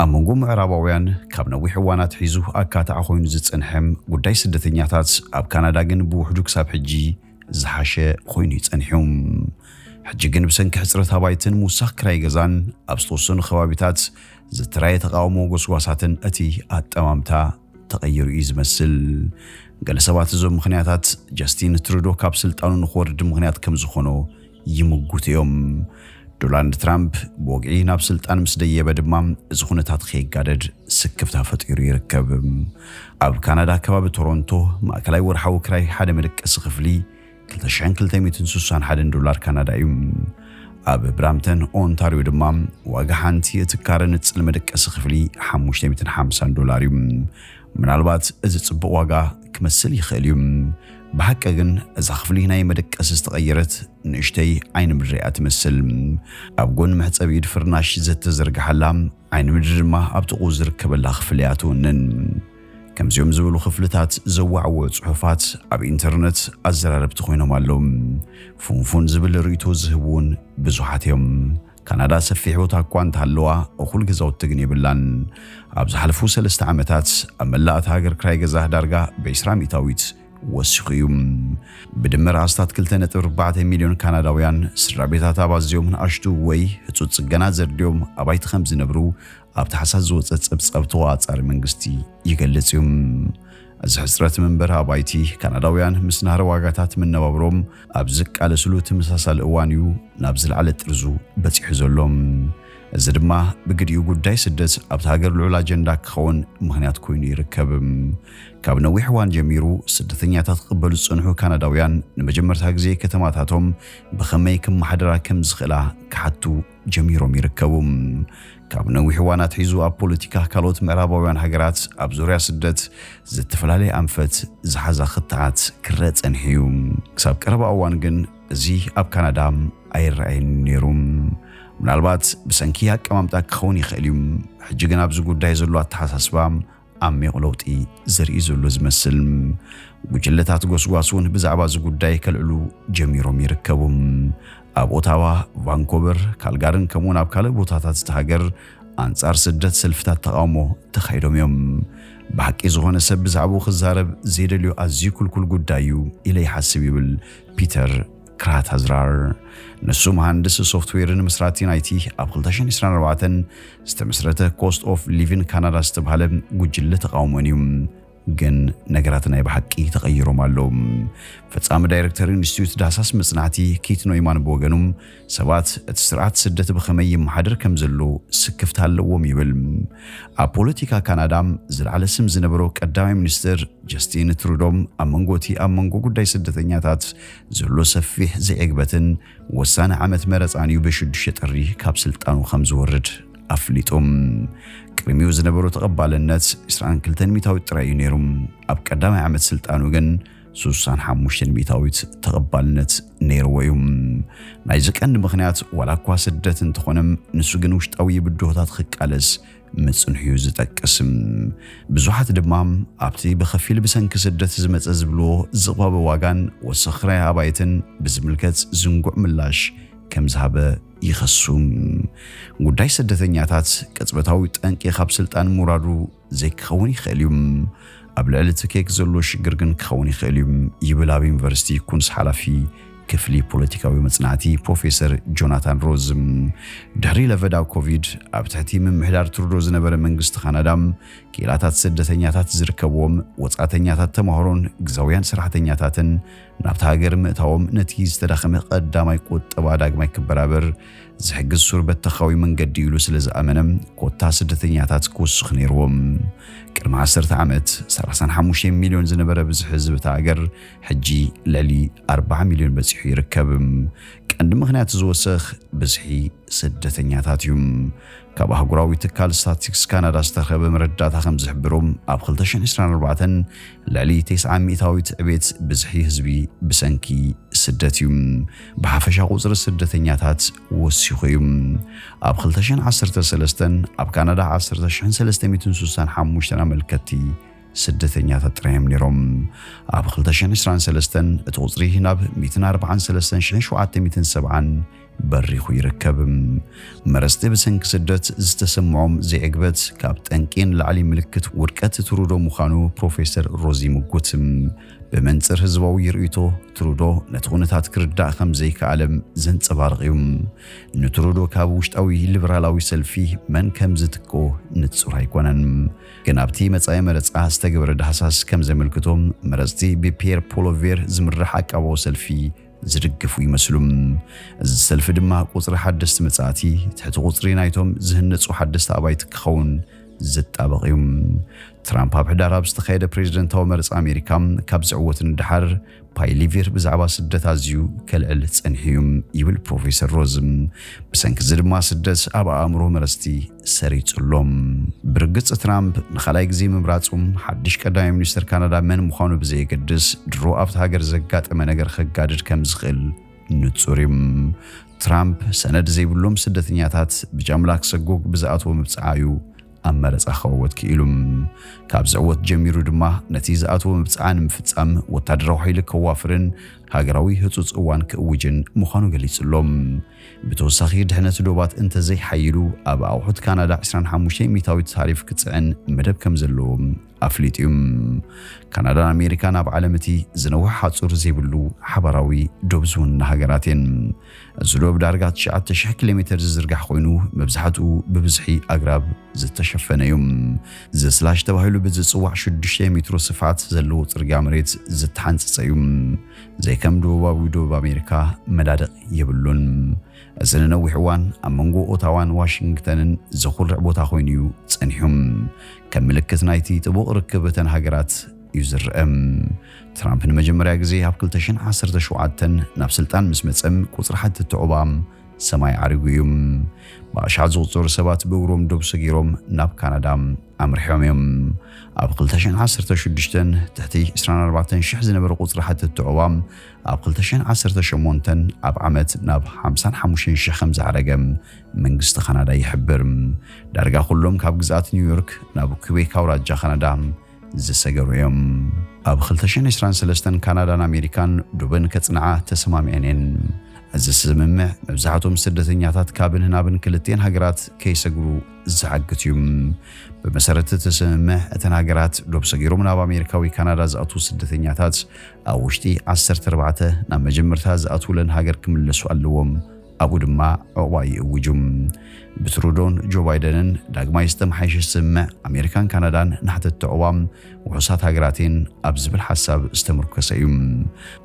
ኣብ መንጎ ምዕራባውያን ካብ ነዊሕ እዋን ኣትሒዙ ኣካታዒ ኮይኑ ዝጸንሐ ጉዳይ ስደተኛታት ኣብ ካናዳ ግን ብውሕዱ ክሳብ ሕጂ ዝሓሸ ኮይኑ'ዩ ጸኒሑ። ሕጂ ግን ብሰንኪ ሕጽረት ኣባይትን ምውሳኽ ክራይ ገዛን ኣብ ዝተወሰኑ ከባቢታት ዝተራየ ተቓውሞ ጎስጓሳትን እቲ ኣጠማምታ ተቐይሩ እዩ ዝመስል። ገለ ሰባት እዞም ምኽንያታት ጀስቲን ትሩዶ ካብ ስልጣኑ ንክወርድ ምኽንያት ከምዝኾኖ ይምጉቱ እዮም። ዶላንድ ትራምፕ ብወግዒ ናብ ስልጣን ምስ ደየበ ድማ እዚ ኩነታት ከይጋደድ ስክፍታ ፈጢሩ ይርከብ። ኣብ ካናዳ ከባቢ ቶሮንቶ ማእከላይ ወርሓዊ ክራይ ሓደ መደቀሲ ክፍሊ ክልተ ሽሕን ክልተ ሚእትን ስሳን ሓደን ዶላር ካናዳ እዩ። ኣብ ብራምተን ኦንታርዮ ድማ ዋጋ ሓንቲ እቲ ካረ ንጽል መደቀሲ ክፍሊ ሓሙሽተ ሚእትን ሓምሳን ዶላር እዩ። ምናልባት እዚ ጽቡቕ ዋጋ ክመስል ይኽእል እዩ፣ ብሓቂ ግን እዛ ክፍሊ ናይ መደቀሲ ዝተቐየረት ንእሽተይ ዓይኒ ምድሪ እያ ትመስል። ኣብ ጎኒ መሕጸቢ ኢድ ፍርናሽ ዘተዘርግሓላ፣ ዓይኒ ምድሪ ድማ ኣብ ጥቕኡ ዝርከበላ ክፍሊ እያ ትውንን። ከምዚኦም ዝበሉ ክፍልታት ዘዋዕዎ ጽሑፋት ኣብ ኢንተርነት ኣዘራረብቲ ኮይኖም ኣለዉ። ፉንፉን ዝብል ርእይቶ ዝህቡ እውን ብዙሓት እዮም። ካናዳ ሰፊሕ ቦታ እኳ እንተሃለዋ እኹል ገዛውቲ ግን የብላን። ኣብ ዝሓለፉ ሰለስተ ዓመታት ኣብ መላእ እታ ሃገር ክራይ ገዛ ዳርጋ ብዕስራ ሚእታዊት ወሲኹ እዩ። ብድምር ኣስታት ክልተ ነጥቢ ኣርባዕተ ሚልዮን ካናዳውያን ስድራቤታት ኣብ ኣዝዮም ንኣሽቱ ወይ ህጹጽ ጽገና ዘድልዮም ኣባይቲ ከም ዝነብሩ ኣብ ታሕሳስ ዝወፀ ፀብፃብ ተቆፃፃሪ መንግስቲ ይገልፅ እዩ። እዚ ሕፅረት መንበሪ ኣባይቲ ካናዳውያን ምስ ናህሪ ዋጋታት መነባብሮም ኣብ ዝቃለስሉ ተመሳሳሊ እዋን እዩ ናብ ዝለዓለ ጥርዙ በፂሑ ዘሎ። እዚ ድማ ብግዲኡ ጉዳይ ስደት ኣብቲ ሃገር ልዑል ኣጀንዳ ክኸውን ምክንያት ኮይኑ ይርከብ። ካብ ነዊሕ እዋን ጀሚሩ ስደተኛታት ክቕበሉ ዝጸንሑ ካናዳውያን ንመጀመርታ ግዜ ከተማታቶም ብኸመይ ክመሓደራ ከም ዝኽእላ ክሓቱ ጀሚሮም ይርከቡ። ካብ ነዊሕ እዋን ኣትሒዙ ኣብ ፖለቲካ ካልኦት ምዕራባውያን ሃገራት ኣብ ዙርያ ስደት ዝተፈላለየ ኣንፈት ዝሓዛ ክትዓት ክረእ ጸኒሑ'ዩ። ክሳብ ቀረባ እዋን ግን እዚ ኣብ ካናዳ ኣይረኣይን ነይሩ። ምናልባት ብሰንኪ ኣቀማምጣ ክኸውን ይኽእል'ዩ። ሕጂ ግን ኣብዚ ጉዳይ ዘሎ ኣተሓሳስባ ዓሚቕ ለውጢ ዘርኢ ዘሎ ዝመስል። ጉጅለታት ጎስጓስ እውን ብዛዕባ እዚ ጉዳይ ከልዕሉ ጀሚሮም ይርከቡ። ኣብ ኦታዋ፣ ቫንኮቨር፣ ካልጋርን ከምኡውን ኣብ ካልእ ቦታታት እቲ ሃገር ኣንጻር ስደት ሰልፍታት ተቓውሞ ተኻይዶም እዮም። ብሓቂ ዝኾነ ሰብ ብዛዕባኡ ክዛረብ ዘይደልዮ ኣዝዩ ክልኩል ጉዳይ እዩ ኢለ ይሓስብ ይብል ፒተር ክራታዝራር። ንሱ መሃንድስ ሶፍትዌርን መስራቲን ኣይቲ ኣብ 2024 ዝተመስረተ ኮስት ኦፍ ሊቪን ካናዳ ዝተብሃለ ጉጅለ ተቃውሞን እዩ። ግን ነገራት ናይ ብሓቂ ተቐይሮም ኣለዉ። ፈጻሚ ዳይረክተር ኢንስቲትዩት ዳህሳስ መጽናዕቲ ኪት ኖይማን ብወገኑ ሰባት እቲ ስርዓት ስደት ብኸመይ ይመሓደር ከም ዘሎ ስክፍታ ኣለዎም ይብል። ኣብ ፖለቲካ ካናዳ ዝለዓለ ስም ዝነበሮ ቀዳማይ ሚኒስትር ጀስቲን ትሩዶም ኣብ መንጎ እቲ ኣብ መንጎ ጉዳይ ስደተኛታት ዘሎ ሰፊሕ ዘይዕግበትን ወሳኒ ዓመት መረፃን እዩ ብሽዱሽተ ጥሪ ካብ ስልጣኑ ከምዝወርድ ኣፍሊጡ። ቅድሚኡ ዝነበሮ ተቐባልነት ዕስራን ክልተን ሚታዊት ጥራይ እዩ ነይሩ። ኣብ ቀዳማይ ዓመት ስልጣኑ ግን ስሳን ሓሙሽተን ሚታዊት ተቐባልነት ነይርዎ እዩ። ናይዚ ቀንዲ ምኽንያት ዋላ እኳ ስደት እንተኾነ ንሱ ግን ውሽጣዊ ብድሆታት ክቃለስ ምጽንሕዩ ዝጠቅስ። ብዙሓት ድማ ኣብቲ ብኸፊል ብሰንኪ ስደት ዝመጸ ዝብልዎ ዝቕባበ ዋጋን ወሰኽ ክራይ ኣባይትን ብዝምልከት ዝንጉዕ ምላሽ ከም ዝሃበ ይኸሱ። ጉዳይ ስደተኛታት ቅጽበታዊ ጠንቂ ካብ ስልጣን ምውራዱ ዘይክኸውን ይኽእል እዩ፣ ኣብ ልዕሊ እቲ ኬክ ዘሎ ሽግር ግን ክኸውን ይኽእል እዩ ይብል ኣብ ዩኒቨርሲቲ ኩንስ ሓላፊ ክፍሊ ፖለቲካዊ መጽናዕቲ ፕሮፌሰር ጆናታን ሮዝ፣ ድሕሪ ለቨዳ ኮቪድ ኣብ ትሕቲ ምምሕዳር ትሩዶ ዝነበረ መንግስቲ ካናዳ፣ ክኢላታት ስደተኛታት ዝርከብዎም ወጻእተኛታት ተማሃሮን ግዛውያን ሰራሕተኛታትን ናብታ ሃገር ምእታዎም ነቲ ዝተዳኸመ ቀዳማይ ቁጠባ ዳግማይ ክበራበር ዝሕግዝ ሱር በተኻዊ መንገዲ ኢሉ ስለ ዝኣመነ ኮታ ስደተኛታት ክውስኽ ነይርዎም። ቅድሚ ዓሰርተ ዓመት 35 ሚልዮን ዝነበረ ብዝሒ ህዝቢ እታ ሃገር ሕጂ ልዕሊ ኣርባዓ ሚልዮን በጺሑ ይርከብ። ቀንዲ ምኽንያት እዚ ወሰኽ ብዝሒ ስደተኛታት እዩ። ካብ ኣህጉራዊ ትካል ስታትስቲክስ ካናዳ ዝተረኸበ መረዳእታ ከም ዝሕብሮ ኣብ 2024 ልዕሊ ቴስዓ ሚእታዊት ዕቤት ብዝሒ ህዝቢ ብሰንኪ ስደት እዩ። ብሓፈሻ ቁጽሪ ስደተኛታት ወሲኹ እዩ። ኣብ 2013 ኣብ ካናዳ 10,365 ኣመልከትቲ ስደተኛታት ጥራይ'ዮም ነይሮም። ኣብ ክልተ ሽሕን ዕስራን ሰለስተን እቲ ቁጽሪ ናብ ሚእትን ኣርብዓን ሰለስተን ሽሕን ሸውዓተ ሚእትን ሰብዓን በሪኹ ይርከብ። መረጽቲ ብሰንኪ ስደት ዝተሰምዖም ዘይዕግበት ካብ ጠንቂ ንላዕሊ ምልክት ውድቀት ትሩዶ ምዃኑ ፕሮፌሰር ሮዝ ይምጉት። ብመንጽር ህዝባዊ ርእይቶ ትሩዶ ነቲ ኩነታት ክርዳእ ከም ዘይከኣለ ዘንጸባርቕ'ዩ። ንትሩዶ ካብ ውሽጣዊ ሊበራላዊ ሰልፊ መን ከም ዝትክኦ ንጹር ኣይኮነን። ግን ኣብቲ መጻኢ መረጻ ዝተገበረ ዳህሳስ ከም ዘመልክቶ መረጽቲ ብፒየር ፖሎቬር ዝምራሕ ኣቃባዊ ሰልፊ ዝድግፉ ይመስሉ። እዚ ሰልፊ ድማ ቁጽሪ ሓደስቲ መጻእቲ ትሕቲ ቁጽሪ ናይቶም ዝህነጹ ሓደስቲ ኣባይቲ ክኸውን ዝጣበቕ እዩ። ትራምፕ ኣብ ሕዳር ኣብ ዝተኻየደ ፕሬዝደንታዊ መረጻ ኣሜሪካ ካብ ዝዕወት ንደሓር ፓይሊቪር ብዛዕባ ስደት ኣዝዩ ከልዕል ጸኒሑ እዩ ይብል ፕሮፌሰር ሮዝ። ብሰንኪ እዚ ድማ ስደት ኣብ ኣእምሮ መረጽቲ ሰሪጹ ኣሎ። ብርግጽ ትራምፕ ንኻልኣይ ግዜ ምምራጹ፣ ሓድሽ ቀዳማይ ሚኒስተር ካናዳ መን ምዃኑ ብዘየገድስ፣ ድሮ ኣብታ ሃገር ዘጋጠመ ነገር ከጋድድ ከም ዝኽእል ንጹር እዩ። ትራምፕ ሰነድ ዘይብሎም ስደተኛታት ብጃምላ ክሰጎግ ብዝኣተዎ ምብጻዓ እዩ ኣብ መረጻ ክዕወት ክኢሉ። ካብ ዝዕወት ጀሚሩ ድማ ነቲ ዝኣተዎ ምብጻዓ ንምፍጻም ወታደራዊ ሓይሊ ከዋፍርን ሃገራዊ ህጹጽ እዋን ክእውጅን ምዃኑ ገሊጹ ኣሎ። ብተወሳኺ ድሕነት ዶባት እንተዘይሓይሉ ኣብ ኣቑሑት ካናዳ ዕስራን ሓሙሽተን ሚታዊት ታሪፍ ክፅዕን መደብ ከምዘለዎ ኣፍሊጡ እዩ። ካናዳን ኣሜሪካን ኣብ ዓለም እቲ ዝነውሐ ሓፁር ዘይብሉ ሓባራዊ ዶብ ዝውንና ሃገራት እየን። እዚ ዶብ ዳርጋ ትሽዓተ ሽሕ ኪሎ ሜተር ዝዝርጋሕ ኮይኑ መብዛሕትኡ ብብዝሒ ኣግራብ ዝተሸፈነ እዩ። ዘስላሽ ተባሂሉ ብዝፅዋዕ ሽዱሽተ ሜትሮ ስፍሓት ዘለዎ ፅርግያ መሬት ዝተሓንፀፀ እዩ። ዘይከም ደቡባዊ ዶብ ኣሜሪካ መዳድቕ የብሉን። እዚ ንነዊሕ እዋን ኣብ መንጎ ኦታዋን ዋሽንግተንን ዘኹርዕ ቦታ ኮይኑ እዩ ጸኒሑ። ከም ምልክት ናይቲ ጥቡቕ ርክብ እተን ሃገራት እዩ ዝርአ። ትራምፕ ንመጀመርያ ግዜ ኣብ 2017 ናብ ስልጣን ምስ መጸ ቁጽሪ ሓተቲ ዑባ ሰማይ ዓሪጉ እዩ። ብኣሽሓት ዝቑጸሩ ሰባት ብእግሮም ዶብ ሰጊሮም ናብ ካናዳ ኣምሪሖም እዮም። ኣብ ክልተ ሽሕን ዓሰርተ ሽዱሽተን ትሕቲ ዕስራን ኣርባዕተን ሽሕ ዝነበረ ቁጽሪ ሓተትቲ ዑቕባ ኣብ ክልተ ሽሕን ዓሰርተ ሸሞንተን ኣብ ዓመት ናብ ሓምሳን ሓሙሽተን ሽሕ ከም ዝዓረገ መንግስቲ ካናዳ ይሕብር። ዳርጋ ኩሎም ካብ ግዝኣት ኒውዮርክ ናብ ኲቤክ ኣውራጃ ካናዳ ዝሰገሩ እዮም። ኣብ ክልተ ሽሕን ዕስራን ሰለስተን ካናዳን ኣሜሪካን ዱብን ከጽንዓ ተሰማሚዐን እየን። እዚ ስምምዕ መብዛሕትኦም ስደተኛታት ካብን ናብን ክልቲኤን ሃገራት ከይሰግሩ ዝዓግት እዩ። ብመሰረት እቲ ስምምዕ እተን ሃገራት ዶብ ሰጊሮም ናብ ኣሜሪካ ወይ ካናዳ ዝኣትዉ ስደተኛታት ኣብ ውሽጢ ዓሰርተ ኣርባዕተ ናብ መጀመርታ ዝኣትዉለን ሃገር ክምለሱ ኣለዎም። ኣብኡ ድማ ዑቕባ ይእውጁ። ብትሩዶን ጆ ባይደንን ዳግማይ ዝተመሓየሸ ስምምዕ ኣሜሪካን ካናዳን ናሕተቲ ዑቕባ ውሑሳት ሃገራት እየን ኣብ ዝብል ሓሳብ ዝተምርኮሰ እዩ።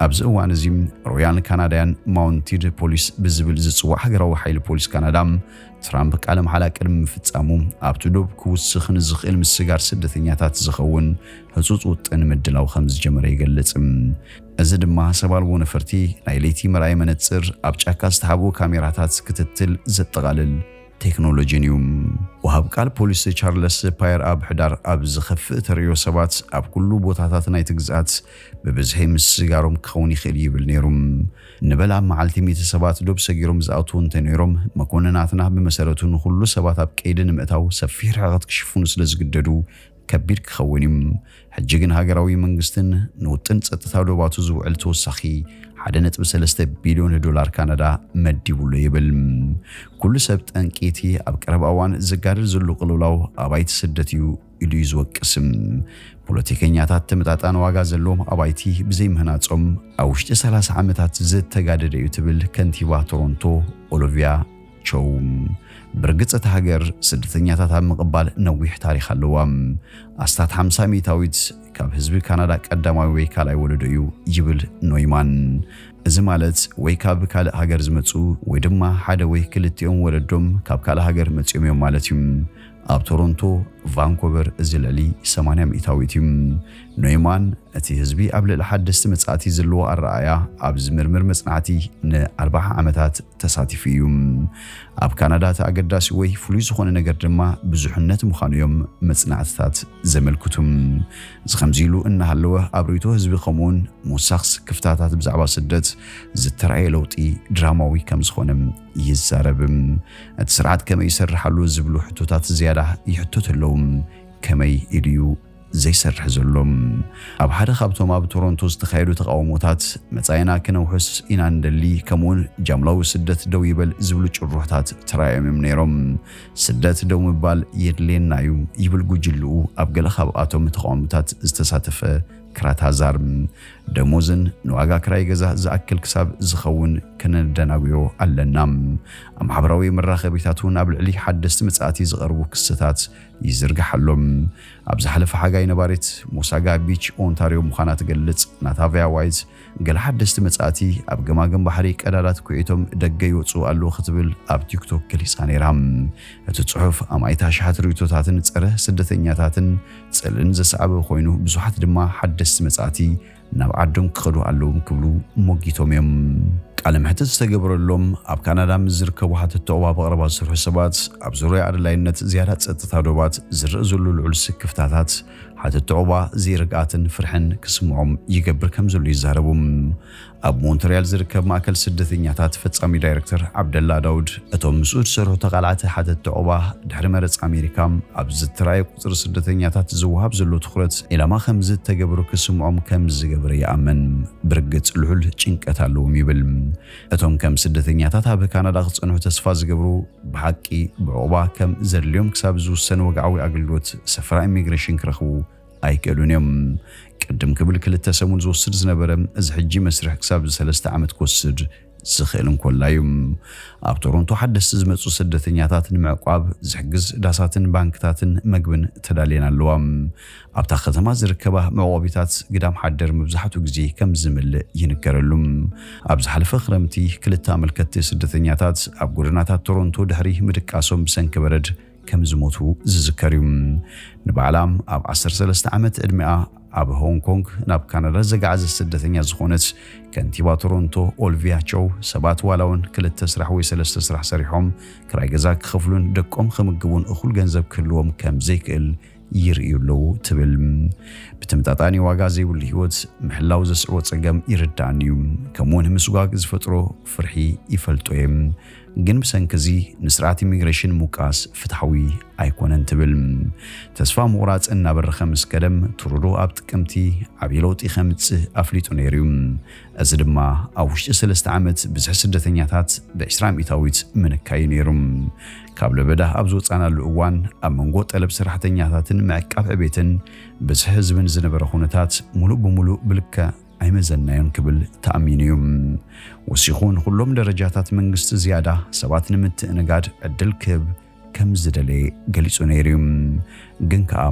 ኣብዚ እዋን እዚ ሮያል ካናዳያን ማውንቲድ ፖሊስ ብዝብል ዝጽዋዕ ሃገራዊ ሓይሊ ፖሊስ ካናዳ ትራምፕ ቃለ መሓላ ቅድሚ ምፍጻሙ ኣብቲ ዶብ ክውስኽ ንዝኽእል ምስጋር ስደተኛታት ዝኸውን ህጹጽ ውጥን ምድላው ከም ዝጀመረ ይገልጽ። እዚ ድማ ሰብ ኣልቦ ነፈርቲ፣ ናይ ለይቲ መርኣዪ መነጽር፣ ኣብ ጫካ ዝተሓብኡ ካሜራታት ክትትል ዘጠቓልል ቴክኖሎጂን እዩ። ወሃብ ቃል ፖሊስ ቻርለስ ፓየር ኣብ ሕዳር ኣብ ዝኸፍእ ተርእዮ ሰባት ኣብ ኩሉ ቦታታት ናይቲ ግዝኣት ብብዝሒ ምስጋሮም ክኸውን ይኽእል ይብል ነይሩ። ንበል ኣብ መዓልቲ ሚእቲ ሰባት ዶብ ሰጊሮም ዝኣትዉ እንተነይሮም፣ መኮንናትና ብመሰረቱ ንኹሉ ሰባት ኣብ ቀይዲ ንምእታው ሰፊሕ ርሕቐት ክሽፍኑ ስለዝግደዱ ከቢድ ክኸውን እዩ። ሕጂ ግን ሃገራዊ መንግስትን ንውጥን ጸጥታ ዶባቱ ዝውዕል ተወሳኺ 1.3 ቢልዮን ዶላር ካናዳ መዲቡሉ ይብል። ኩሉ ሰብ ጠንቂ እቲ ኣብ ቀረባ እዋን ዝጋደል ዘሎ ቅልውላው ኣባይቲ ስደት እዩ ኢሉ እዩ ዝወቅስም። ፖለቲከኛታት ተመጣጣኒ ዋጋ ዘለዎም ኣባይቲ ብዘይምህናጾም ኣብ ውሽጢ 30 ዓመታት ዝተጋደደ እዩ ትብል ከንቲባ ቶሮንቶ ኦሎቪያ ቾው፣ ብርግጽ እታ ሃገር ስደተኛታት ኣብ ምቕባል ነዊሕ ታሪኽ ኣለዋ። ኣስታት ሓምሳ ሚእታዊት ካብ ህዝቢ ካናዳ ቀዳማይ ወይ ካልኣይ ወለዶ እዩ ይብል ኖይማን። እዚ ማለት ወይ ካብ ካልእ ሃገር ዝመጹ ወይ ድማ ሓደ ወይ ክልቲኦም ወለዶም ካብ ካልእ ሃገር መጺኦም እዮም ማለት እዩ። ኣብ ቶሮንቶ፣ ቫንኮቨር እዚ ልዕሊ ሰማንያ ሚእታዊት እዩ። ኖይማን እቲ ህዝቢ ኣብ ልዕሊ ሓደስቲ መጻእቲ ዘለዎ ኣረኣእያ ኣብ ዝምርምር መጽናዕቲ ን ኣርባዓ ዓመታት ተሳቲፉ እዩ። ኣብ ካናዳ እቲ ኣገዳሲ ወይ ፍሉይ ዝኾነ ነገር ድማ ብዙሕነት ምዃኑ እዮም መጽናዕትታት ዘመልክቱ። እዚ ከምዚ ኢሉ እናሃለወ ኣብ ርእይቶ ህዝቢ ከምኡውን ምውሳኽስ ክፍታታት ብዛዕባ ስደት ዝተራእየ ለውጢ ድራማዊ ከም ዝኾነ ይዛረብ። እቲ ስርዓት ከመይ ይሰርሕ ኣሎ ዝብሉ ሕቶታት ዝያዳ ይሕተቱ ኣለዉ። ከመይ ኢሉ'ዩ ዘይሰርሕ ዘሎ? ኣብ ሓደ ካብቶም ኣብ ቶሮንቶ ዝተኻየዱ ተቓውሞታት፣ መጻኢና ክነውሕስ ኢና ንደሊ፣ ከምኡ'ውን ጃምላዊ ስደት ደው ይበል ዝብሉ ጭርሖታት ተራእዮም'ዮም ነይሮም። ስደት ደው ምባል የድልየና'ዩ ይብል ጉጅልኡ ኣብ ገለ ካብኣቶም ተቓውሞታት ዝተሳተፈ ክራታዛር። ደሞዝን ንዋጋ ክራይ ገዛ ዝኣክል ክሳብ ዝኸውን ከነደናጉዮ ኣለና። ኣብ ማሕበራዊ መራኸቢታት እውን ኣብ ልዕሊ ሓደስቲ መጻእቲ ዝቐርቡ ክስታት ይዝርጋሕ ኣሎ። ኣብ ዝሓለፈ ሓጋይ ነባሪት ሞሳጋ ቢች ኦንታርዮ ምዃና ትገልጽ ናታቭያ ዋይት፣ ገለ ሓደስቲ መጻእቲ ኣብ ገማግም ባሕሪ ቀዳዳት ኲዒቶም ደገ ይወጽኡ ኣለዉ ክትብል ኣብ ቲክቶክ ገሊጻ ነይራ። እቲ ጽሑፍ ኣማኢት ኣሽሓት ርእይቶታትን ጸረ ስደተኛታትን ጽልእን ዘስዓበ ኮይኑ ብዙሓት ድማ ሓደስቲ መጻእቲ ናብ ዓዶም ክኸዱ ኣለዎም ክብሉ ሞጊቶም እዮም። ቃለ መሕትት ዝተገበረሎም ኣብ ካናዳ ምስ ዝርከቡ ሓተቲ ዑቕባ ብቐረባ ዝሰርሑ ሰባት ኣብ ዙርያ ኣድላይነት ዝያዳ ጸጥታ ዶባት ዝርእ ዘሎ ልዑል ስክፍታታት ሓተቲ ዑቕባ ዘይርግኣትን ፍርሕን ክስምዖም ይገብር ከምዘሎ ይዛረቡ። ኣብ ሞንትርያል ዝርከብ ማእከል ስደተኛታት ፈጻሚ ዳይረክተር ዓብደላ ዳውድ፣ እቶም ምስኡ ዝሰርሑ ተቓላዕቲ ሓተትቲ ዑቕባ፣ ድሕሪ መረጻ ኣሜሪካ፣ ኣብ ዝተራእየ ቁጽሪ ስደተኛታት ዝወሃብ ዘሎ ትኹረት ዒላማ ከም ዝተገብሩ ክስምዖም ከም ዝገበረ ይኣምን። ብርግጽ ልዑል ጭንቀት ኣለዎም ይብል። እቶም ከም ስደተኛታት ኣብ ካናዳ ክጸንሑ ተስፋ ዝገብሩ፣ ብሓቂ ብዑቕባ ከም ዘድልዮም ክሳብ ዝውሰን ወግዓዊ ኣገልግሎት ሰፈራ ኢሚግሬሽን ክረኽቡ ኣይክእሉን እዮም። ቅድም ክብል ክልተ ሰሙን ዝወስድ ዝነበረ እዚ ሕጂ መስርሕ ክሳብ ሰለስተ ዓመት ክወስድ ዝኽእል እንኮላይ እዩ። ኣብ ቶሮንቶ ሓደስቲ ዝመጹ ስደተኛታት ንምዕቋብ ዝሕግዝ ዳሳትን ባንክታትን መግብን ተዳልየን ኣለዋ። ኣብታ ከተማ ዝርከባ መዕቆቢታት ግዳም ሓደር መብዛሕትኡ ግዜ ከም ዝምልእ ይንገረሉ። ኣብ ዝሓለፈ ክረምቲ ክልተ ኣመልከትቲ ስደተኛታት ኣብ ጎደናታት ቶሮንቶ ድሕሪ ምድቃሶም ብሰንኪ በረድ ከም ዝሞቱ ዝዝከር እዩ። ንባዕላ ኣብ ዓሰርተ ሰለስተ ዓመት ዕድሚኣ ኣብ ሆንግ ኮንግ ናብ ካናዳ ዘጋዓዘት ስደተኛ ዝኾነት ከንቲባ ቶሮንቶ ኦልቪያ ቸው ሰባት ዋላ እውን ክልተ ስራሕ ወይ ሰለስተ ስራሕ ሰሪሖም ክራይ ገዛ ክኸፍሉን ደቆም ክምግቡን እኹል ገንዘብ ክህልዎም ከም ዘይክእል ይርእዩ ኣለዉ ትብል። ብተመጣጣኒ ዋጋ ዘይብሉ ህይወት ምሕላው ዘስዕቦ ጸገም ይርዳእኒ እዩ፣ ከምኡውን ምስጓግ ዝፈጥሮ ፍርሒ ይፈልጦ እየ። ግን ብሰንኪ እዚ ንስርዓት ኢሚግሬሽን ምውቃስ ፍትሓዊ ኣይኮነን ትብል። ተስፋ ምቑራጽ እናበረኸ ምስ ከደም ትሩዶ ኣብ ጥቅምቲ ዓብዪ ለውጢ ከምጽእ ኣፍሊጡ ነይሩ እዩ። እዚ ድማ ኣብ ውሽጢ ሰለስተ ዓመት ብዝሒ ስደተኛታት ብ20 ሚእታዊት ምንካዩ ነይሩ። ካብ ለበዳ ኣብ ዝወጻእናሉ እዋን ኣብ መንጎ ጠለብ ሰራሕተኛታትን ምዕቃብ ዕቤትን ብዝሒ ህዝብን ዝነበረ ኩነታት ሙሉእ ብሙሉእ ብልክዕ ኣይመዘንናዮን ክብል ተኣሚኑ እዩ። ወሲኹ ንኹሎም ደረጃታት መንግስቲ ዝያዳ ሰባት ንምትእንጋድ ዕድል ክህብ ከም ዝደለየ ገሊጹ ነይሩ እዩ። ግን ከኣ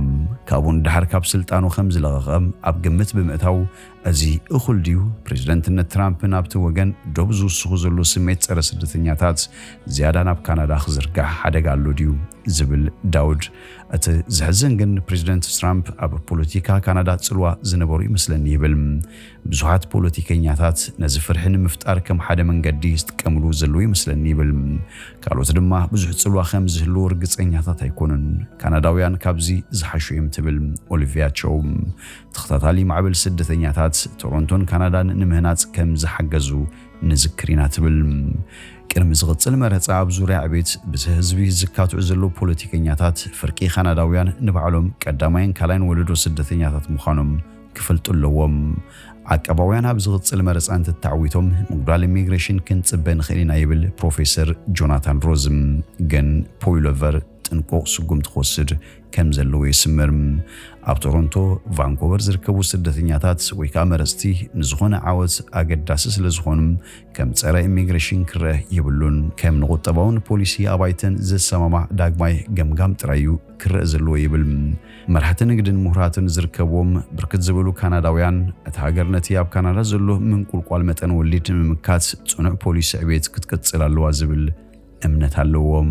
ካብኡ ንደሓር ካብ ስልጣኑ ከም ዝለቐቐ ኣብ ግምት ብምእታው እዚ እኹል ድዩ? ፕሬዝደንትነት ትራምፕ ናብቲ ወገን ዶብ ዝውስኹ ዘሎ ስሜት ፀረ ስደተኛታት ዝያዳ ናብ ካናዳ ክዝርጋሕ ሓደጋ ኣሎ ድዩ? ዝብል ዳውድ። እቲ ዘሕዝን ግን ፕሬዝደንት ትራምፕ ኣብ ፖለቲካ ካናዳ ፅልዋ ዝነበሮ ይመስለኒ ይብል። ብዙሓት ፖለቲከኛታት ነዚ ፍርሒ ንምፍጣር ከም ሓደ መንገዲ ይጥቀምሉ ዘለዉ ይመስለኒ ይብል። ካልኦት ድማ ብዙሕ ፅልዋ ከም ዝህልዎ ርግፀኛታት ኣይኮኑን። ካናዳውያን ካብዚ ዝሓሹ እዮም ትብል ኦሊቪያ ቸው። ተኸታታሊ ማዕበል ስደተኛታት ቶሮንቶን ካናዳን ንምህናጽ ከም ዝሓገዙ ንዝክር ኢና ትብል። ቅድሚ ዝቕጽል መረጻ ኣብ ዙርያ ዕቤት ብዝሒ ህዝቢ ዝካትዑ ዘለዉ ፖለቲከኛታት ፍርቂ ካናዳውያን ንባዕሎም ቀዳማይን ካልኣይን ወለዶ ስደተኛታት ምዃኖም ክፈልጡ ኣለዎም። ዓቃባውያን ኣብ ዝቕጽል መረጻ እንትተዓዊቶም ምጉዳል ኢሚግሬሽን ክንጽበ ንኽእል ኢና ይብል ፕሮፌሰር ጆናታን ሮዝም። ግን ፖይሎቨር ጥንቁቕ ስጉምቲ ክወስድ ከም ዘለዎ ይስምር። ኣብ ቶሮንቶ፣ ቫንኮቨር ዝርከቡ ስደተኛታት ወይ ከኣ መረጽቲ ንዝኾነ ዓወት ኣገዳሲ ስለ ዝኾኑ ከም ጸረ ኢሚግሬሽን ክረእ የብሉን። ከም ንቁጠባውን ፖሊሲ ኣባይተን ዝሰማማዕ ዳግማይ ገምጋም ጥራይ እዩ ክረእ ዘለዎ ይብል። መራሕቲ ንግድን ምሁራትን ዝርከብዎም ብርክት ዝበሉ ካናዳውያን እታ ሃገር ነቲ ኣብ ካናዳ ዘሎ ምንቁልቋል መጠን ወሊድ ንምምካት ጽኑዕ ፖሊሲ ዕቤት ክትቅጽል ኣለዋ ዝብል እምነት ኣለዎም።